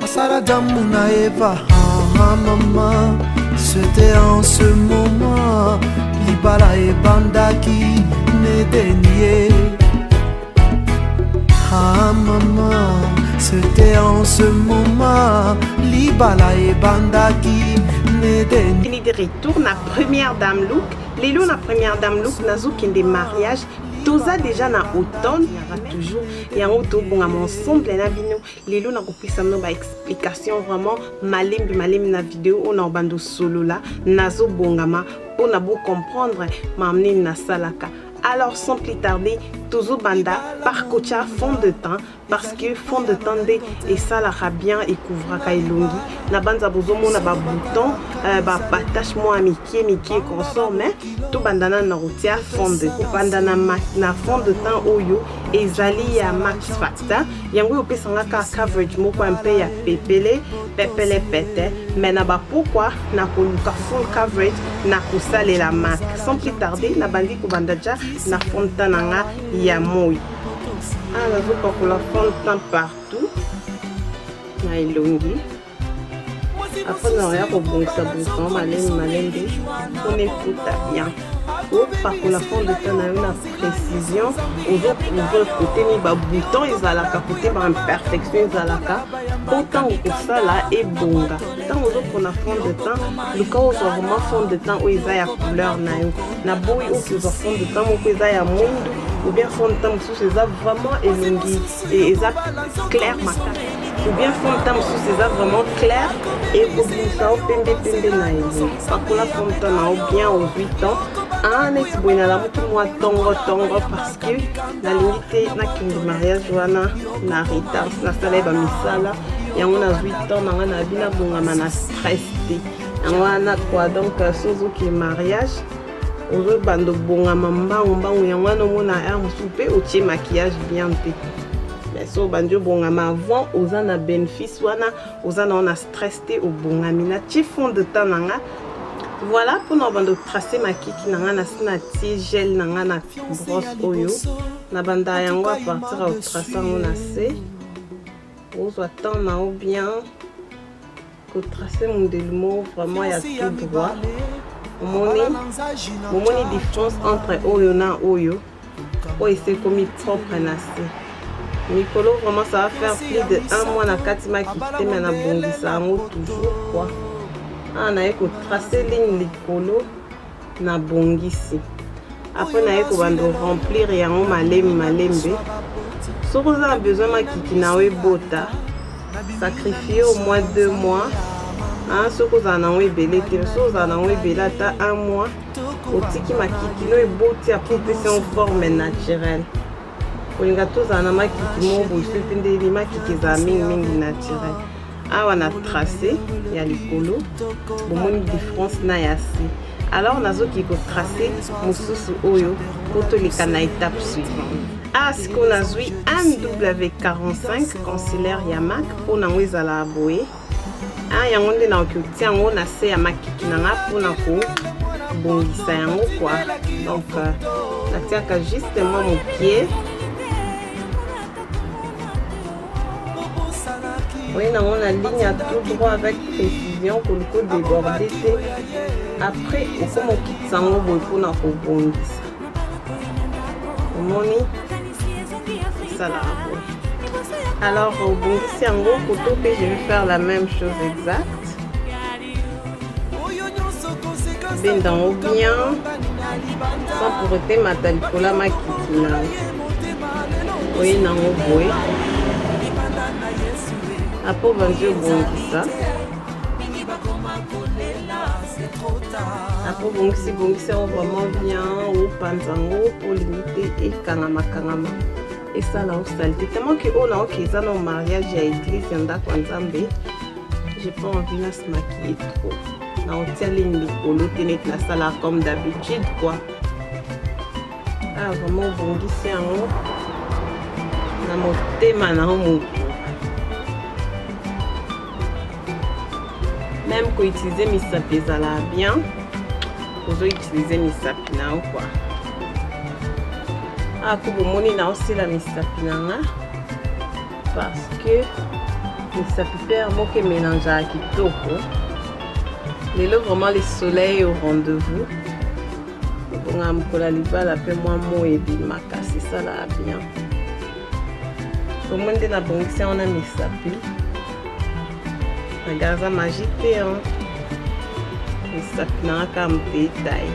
Asala Adamu na Eva, ah mama, c'était en ce moment libala ebandaki n'Edenie. Ah mama, c'était en ce moment libala ebandaki n'Edenie. Il est de retour na première dame look. Lelo na première dame look nazokende mariage toza déjà na automne toujours yango tobongama ensemble na bino lelo nakopesa bino ba explication vraiment malembe malembe na video oyo na obanda osolola nazobongama mpo na bocomprendre makambo nini nasalaka alors sans plus tarder tozobanda par kotia fond de temps parce que fond de temps nde esalaka bien ekouvraka elongi na banza bozomona babouton euh, batache mwa mike mike consort mais tobanda nano na kotia fond de kobanda na fond de temps oyo ezali ya max facta yango oyo opesa nga ka coverage moko ya mpe ya pepele pepele pete me na bapokwa na koluka full coverage na kosalela mac sans plus tarder nabandi kobanda ja na fonta na nga ya moi awa ah, nazopakola fonta partout na elongi après na oya kobongisa bongisa ngo malembe malembe mpona efuta bien opakola fond de temps na yo na précision ozo prouve kote ni babouton ezalaka kote baimperfection ezalaka mpo ntango kosala ebonga ntango ozopona fond de temps luka ozwa vraiment fond de temps oyo eza ya couleur na yo na boyi okozwa fond de temps moko eza ya mwindu ou bien fond de temps mosusu eza vraiment elongi et eza clair makasi ou bien forme ta mosusu eza vraiment clair ekobimisa yo pembe pembe na ye pakola forme ta na yo bien au 8 ans ah neti boye nalamuki mwa tongo tongo parce que nalingi te nakende mariage wana na retard nasala ye bamisala yango nazwi temps na ngai nabi nabongama na stress te yango wana kwa donc sozoki mariage ozobanda obongama mbangu mbangu yango wana omona heure mosusu mpe otie maquillage bien mpe mais so obandi obongama avant oza na benefice wana oza na wana stress te obongami natie fond de temps na nga voilà mpona obanda otrace makiki na nga nasi natie gel na nga na brosse oyo nabanda yango a partir ya otrace yango na se ozwa temps na yo bien kotrace mondele moko vraiment ya tout droit omoni momoni différence entre oyo na oyo oyo esi ekomi propre na se mikolo vraiment ça va faire plus de un mois na kati makite me na bongisa yango toujours kua awa naye kotrace ligne likolo na bongisi apres naye kobando remplir yango malemi malembe soki oza na besoin makiki na yo ebota sacrifie au moins deux mois hein, soki ozala nango ebele te soki ozala nango ebele ata un mois otiki makiki no eboti apres opesi yango forme naturelle kolinga tozala na makiki moko boye soki mpe nde ebi makiki ezala mingimingi naturel awa na trace ya likolo bomoni différence na ya se alors nazoki kotrace mosusu oyo mpo toleka na étape suivante a ah, sikoyo nazwi mw 45 concilaire ya mak mpo nango ezalaka boye ah, yango nde naoki otia yango na se ya makiki na nga mpona kobongisa yango kwa donc euh, natiaka juste mwa mokie oye nango na ligne ya tout droit avec précision koliko déborde te après okoma okitisa yango boye mpona kobongisa omoni esala yango alors obongisi yango koto mpe je vais faire la même chose exacte benda yango bien sans pour etemata likola makiki na oye nango boye apo banzi obongisa akobongisi bongisi yango vraiment bien opanza yango mpo limite ekangama kangama esala osalite tellement ke oyo naoki eza na mariage ya eglise ya ndako ya nzambe j'ai pas envie na se maquiller trop na otia ligne likolo te neti nasala comme d'habitude quoi Ah, vraiment obongisi yango na motema na yo moko meme koutilize misapi ezalaka bien ozoutilize misapi na yo kua ako ah, bomoni na osila misapi na nga parce que misapi mpe ya moko emelangeaka kitoko lelo vraiment le soleil au rendez-vous Bonga mokola libala mpe mwa moi ebimaka sesalaa bien omoni nde nabongisi yango na misapi nagarza magi te misapi nanga kaka motetai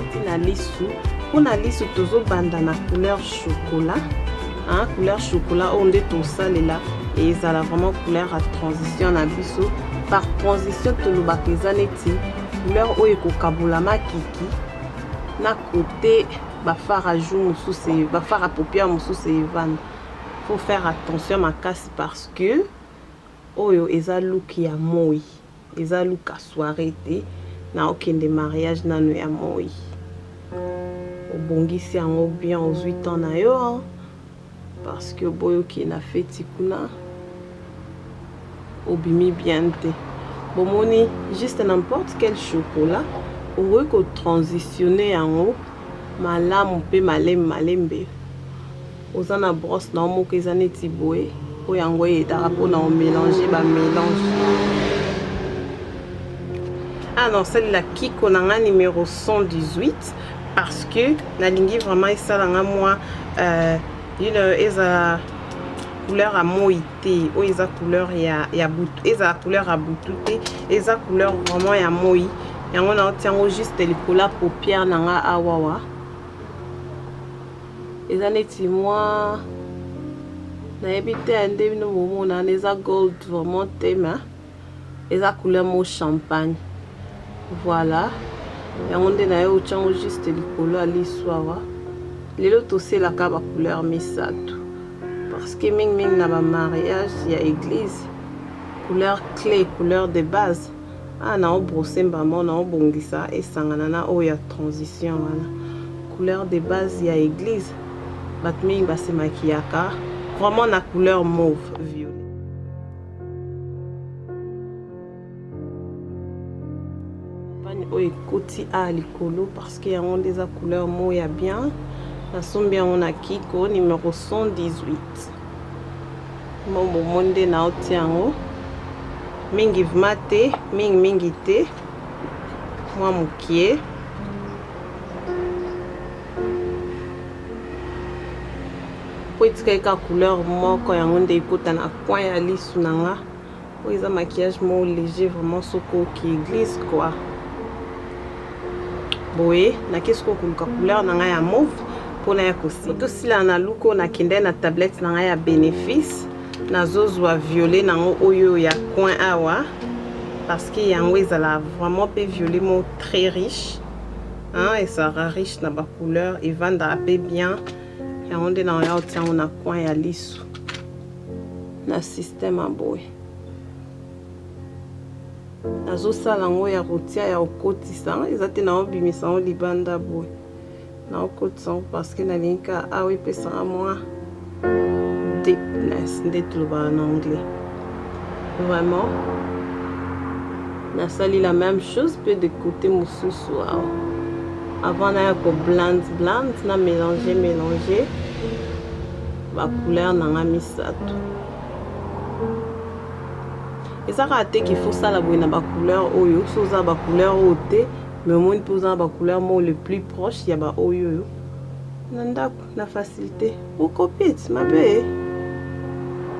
uti na lisu mpo na lisu tozobanda na couleur chocolat hein, couleur chocolat oyo nde tosalela ezala vraiment couleur ya transition na biso par transition tolobaka eza neti Couleur oyo ekokabola makiki na kote bafara jour mosusu bafara paupière mosusu evanda faut faire attention makasi parce que oyo eza look ya moi eza look ya soirée te na okende mariage nano ya moi obongisi yango bien ozwi temps na yo Parce que boyo ke na feti kuna obimi bien te. Bomoni juste n'importe quel chocolat okoki ko transitionner yango malamu pe malem malembe. Oza na brosse na moko eza neti boye po yango edaka po na omelange ba melange. Ah non, salela kiko na nga numero 118. parce que nalingi vraiment esala nga mwa euh, you know, ezala couleur ya moi te oyo eza couleur ya, ya butu ezala couleur ya butu te eza couleur vraiment ya moi yango naotia yango juste likolo ya paupière na nga awawa eza neti mwa nayebi te ya nde bino bomonana eza gold vraiment te ma eza couleur mo champagne voilà yango nde nayo ochango juste likolo ya liso awa lelo toselaka ba couleur misato parce que mingi mingi na ba mariage ya église couleur clé couleur de base ah na obrosser mbamo na obongisa esangana na oyo ya transition wana couleur de base ya église bato mingi basemakiyaka vraiment na couleur mauve violet pani oyo ekoti a likolo parce que yango nde eza couleur moko ya bien nasombi yango na kiko numero 118 mobomo nde naoti yango mingi vma te mingi mingi te mwa mokie po etika ye kaka couleur moko yango nde ekota na coin ya lisu na nga oyo eza maquillage moko léger vraiment soki oki eglise quoi boye nakesi ko koluka couleur na ngai ya mauve mpona ya kosi tosila na luko nakende na tablette na ngai ya bénéfice nazozwa violet nango oyo ya coin awa parce que yango ezala vraiment mpe violet moko très riche Hein, et Sarah riche na ba couleur evanda ape bien yango nde na oya otia yango na coin ya lisu na système ya boye nazosala yango ya kotia ya kokotisa eza te naobimisa yango libanda boye naokotisa yango parceke nalingi ka awa epesaka mwa deepness nde tolobaka na anglais vraiment nasali la même chose mpe de côté mosusu awa avant naya koblande blande na mélange mélange bacouleur na nga misato eza kaka te ke faut sala boye na bacouleur oyo so oza bacouleur oyo te mais omoni mpe oza na bacouleur moko le plus proche ya baoyo oyo na ndako na facilité okopit mabe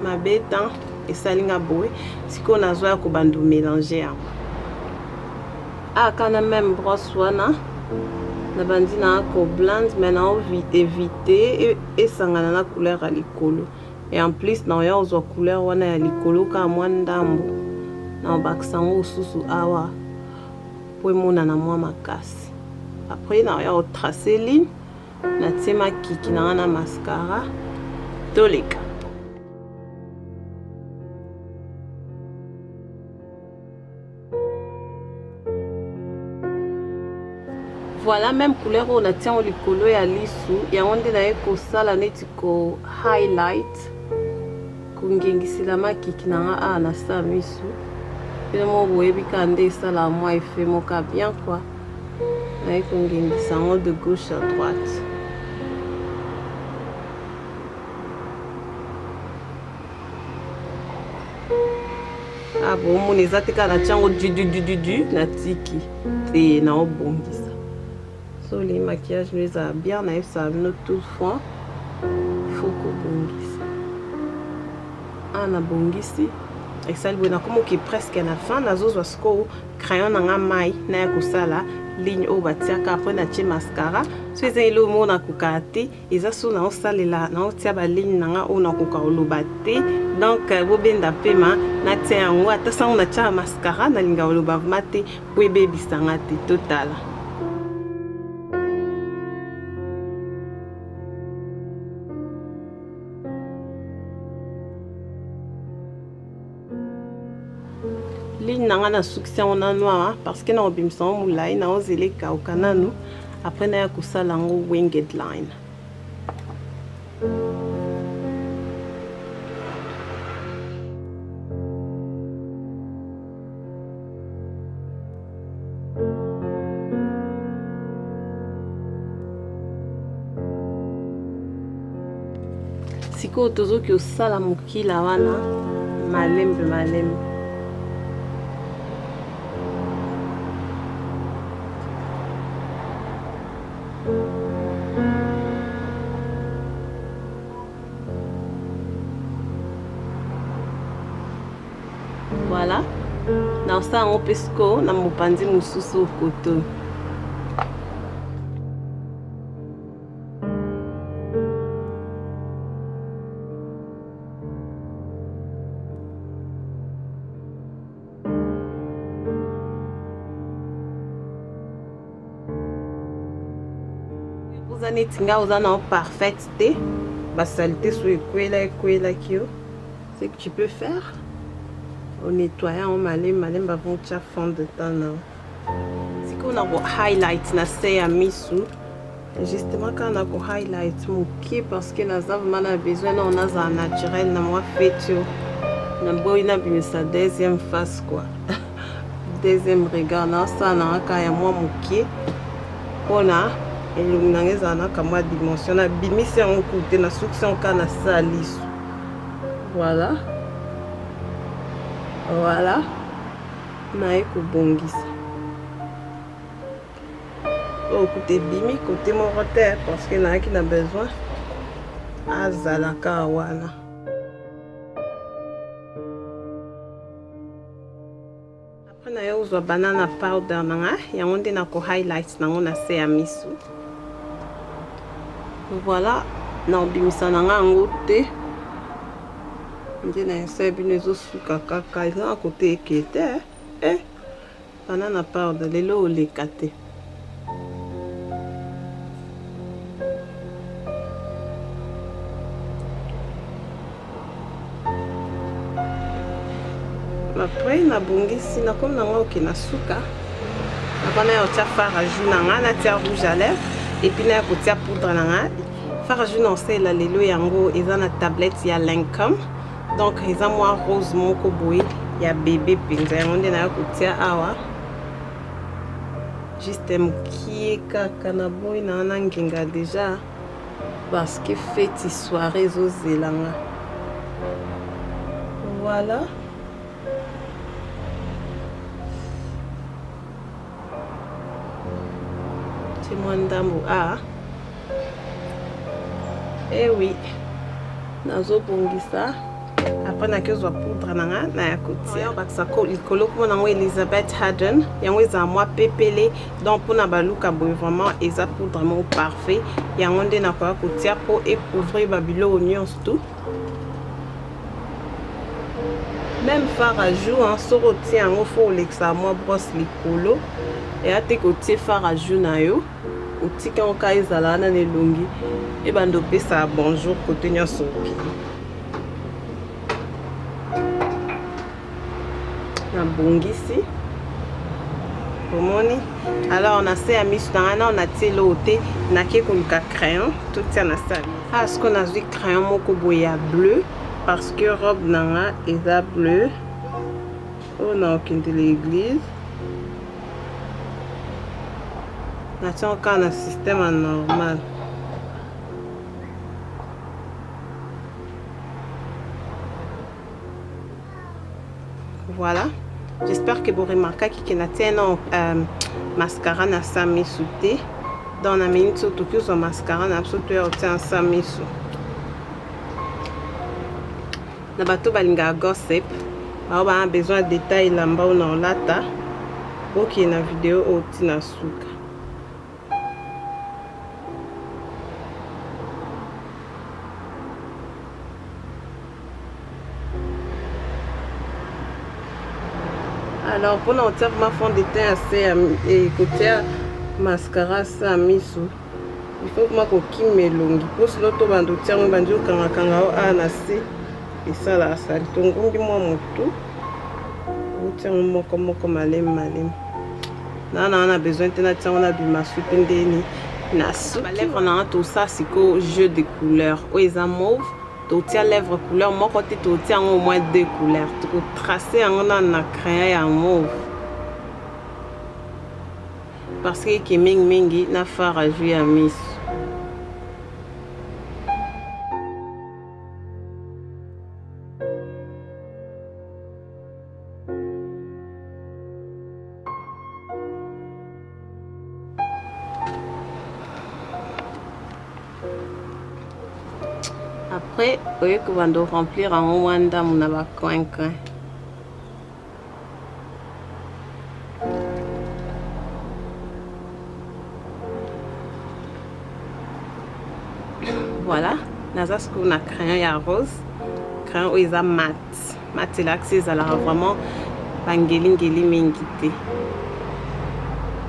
mabe temps esali nga boye sikoyo nazwa ya kobando mélange yango aka na meme brosse wana nabandi na koblande mai na évite esangana na couleur ya likolo et en plus na oya kozwa couleur wana ya likolo kaka mwa ndambo na obakisa yango mosusu awa mpo emonana mwa makasi après na oya kotrace ligne natie makiki na nga na mascara toleka voilà même couleur oyo natie yango likolo ya lisu yango nde naye kosala neti ko highlight kongengisela makiki na nga awa na sa misu bino moko boyebi kaka nde esala mwa efe moka bien kua naye kongengisa yango de gauche à droite ah, bomoni eza te kaka na tiango dududududu na tiki te naobongisa Soli maquillage no ezala bien na yebisa bino tout franc faut kobongisa ah na bongisi esali boye nakomoki presque na fin nazozwa sikoyo crayon na nga mai naya kosala ligne oyo batiaka apres natie mascara so eza eloo moko nakokaka te eza so na osalela na otia ba ligne na nga oyo nakoka oloba te donc euh, bobenda pema natia yango ata sango natia mascara nalinga oloba vrema te po ebebisa nga te totala ligne na ngai nasukisi yango na noir parce que nakobimisa yango molai naozela ekauka nanu après naya kosala yango winged line sikoyo tozoki osala mokila wana malembe malembe Voilà. Nakosala yango mpe sikoyo na mopanzi mosusu koto. oza neti ngai oza na yo parfaite te basalite so ekwela ekwelaki yo ce que tu peux faire au nettoyer en malembe malembe avant tia fond de temps na sikoyo na ko highlight na se ya misu justement kaka na ko highlight moke parce que naza vraimen na besoin nao nazala naturel na mwa fetio na boyi nabimisa deuxième face quoi deuxième regard naosala na kaka ya mwa moke mpona elongi na ngai ezala na kamwa dimension nabimisi yango kute na sukisi yango kaka na salisu Voilà. Voilà. Naye kobongisa. Oh, kuta ebimi kote moko te parce que nayaki na besoin azalaka wana. Mpo na yo ozwa banana powder na nga, yango nde na ko highlight nango na se ya misu. Voilà, na obimisa na nga yango te. Nde na esa bino ezosuka kaka, eza na kote eke te. Eh, banana powder lelo oleka te. après nabongisi nakomi na ngai oke na suka nakona ya kotia fara jour na ngai natia rouge à lèvre epuis naya kotia poudre na ngai fara jour na osalela lelo yango eza na tablette ya lincom donc eza mwa rose moko boye ya bebe mpenza yango nde naya kotia awa juste mukie kaka na boyi na wana ngenga deja parce que feti soirée ezozela nga voilà mwa ndambo a ah. ewi eh nazobongisa apres nakezwa poudre na nga na ya kotiabakisa likolo kuma nango elizabeth harden yango ezala mwa pepele donc mpona baluka boye vraiment eza poudre moko parfait yango nde nakoya kotia mpo ecouvrir babiloko nyonso tout meme far a jour soki otie yango fo olekisa mwa brosse likolo eya te kotie far a jour na yo otika yango ka ezala wana na elongi ebanda opesa bonjour kote nyonso oki nabongisi omoni alors na se ya miso na ngai nao natie eloo te nake koluka crayon totia na sali ah sikoyo nazwi crayon moko boye ya bleu parce que robe na nga eza bleu oyo na okende na eglise nation kaka na système ya normal voilà j'espère que boremarkaki ke natie na euh, mascara na sa misu te donc na minute so toki ozwa mascara na biso toya otia na sa misu Na bato balingaka gossip, bao ba besoin ya detail lamba ona olata, bokende na video oyo ti na suka. Alors mpona kotia ma fond de teint ya se ya kotia mascara sa misu Il faut okoma kokima elongi mpo sino tobanda otia yango ebandi okangakanga yo awa na se esalaka sali tongumbi mwa motu otia yango moko moko malemi malemi naa naa na besoin te natia yango na bimasu mpe ndeni na su balèvre na nga tosa sikoyo jeu de couleur oyo eza mauve totia lèvre couleur moko te totia yango au moins deux couleurs tokotrace yango nano na crayon ya mauve Parce que ki mingi mingi na fara jus ya miso. Après, oye kobanda remplir yango mwa ndambo na ba coin coin. voilà naza sikoyo na crayon ya rose crayon oyo eza mat mat elakisi ezalaka vraiment bangelingeli mingi te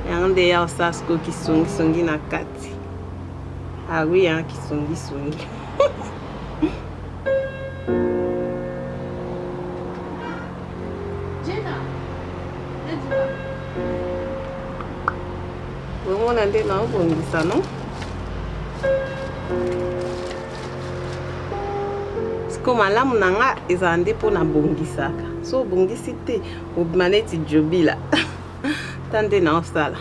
yango nde ya osala sikoyo kisongisongi na kati awi ah ya kisongisongi Omona nde naobongisa no siko malamu na nga ezala nde mpo nabongisaka so obongisi te obima neti jobila ta nde naosala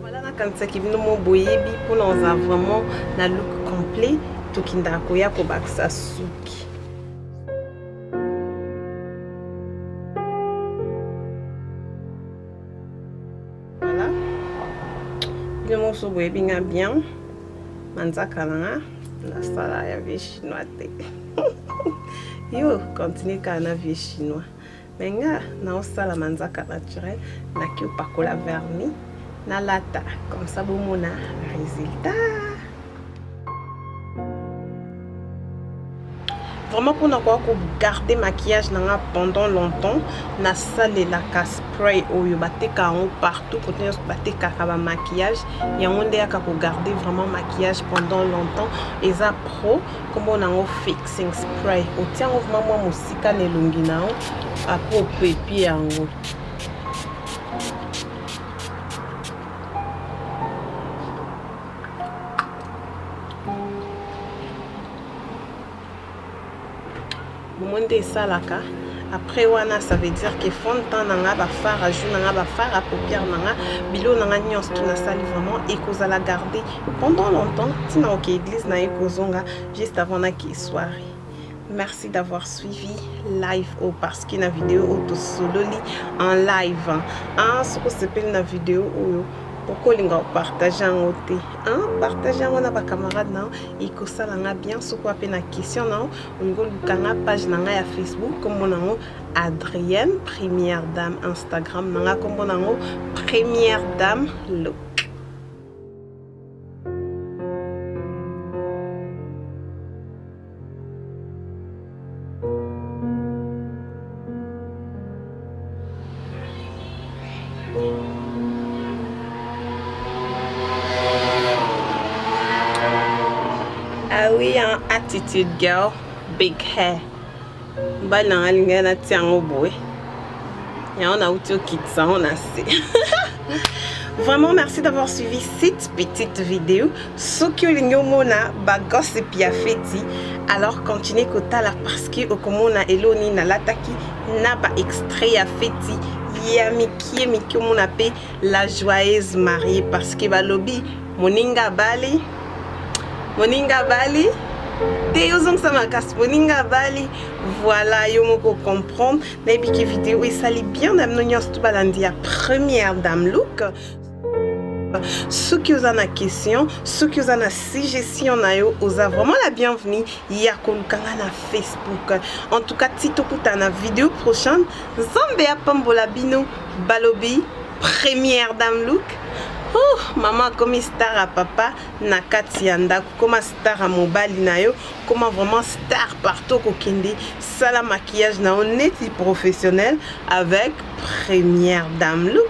Voilà, nakanisaki bino mo boyebi mpona oza vraiment na look complet tokendaka koya kobakisa suki voilà bino mosusu boyebi nga bien manzaka na nga nasala ya vie chinois te yo continue kaka na vie chinois Mais nga naosala manzaka naturel naki opakola vernis nalata comme ça bomona résultat vraiment mpona koya kogarde maquillage na nga pendant longtemps nasalelaka spray oyo bateka yango partout kote nyonso batekaka bamaquillage yango nde yaka kogarde vraiment maquillage pendant longtemps eza pro Kombo na ngo fixing spray. Otia ngo vraiment mwa mosika na elongi na yo après opepie yango. Bomoni nde esalaka après wana ça veut dire que fond de temps na nga ba phare à jour na nga ba phare à paupière na nga bilo na nga nyonso tout nasali vraiment ekozala garde pendant longtemps ntina oke église na ye kozonga juste avant na ke soirée merci d'avoir suivi live oyo parce que na video oyo tosololi en live ah soki osepeli na video oyo pourquoi olinga opartage yango te partage yango na bacamarade na yo ekosala nga bien soki wape na question na yo ngoluka nga page na nga ya facebook nkombo na yango adrienne première dame instagram na nga nkombo na yango première dame look awi ah en attitude girl big hair mbali na nga alingai natia yango boye yango nauti okitisa yango na se Vraiment, merci d'avoir suivi cette petite vidéo. Ce que l'ingomona, ba gossip ya feti. Alors, continuez kotala parce que okomona eloni na lataki na ba extrait ya feti ya mikie mikie omona mpe la joyeuse marie parce que balobi moninga abali moninga abali te yo ozongisa makasi boninga abali voilà yo moko comprendre nayebiki video esali bien na bino nyonso to balandi ya première dame look soki oza na question soki oza na suggestion na yo oza vraiment la bienvenue ya koluka nga na facebook en tout cas ti tokutana video prochaine nzambe apambola bino balobi première dame look oh, mama akomi star ya papa na kati ya ndako koma star ya mobali na yo koma vraiment star partout kokende sala maquillage na yo neti professionnel avec première dame look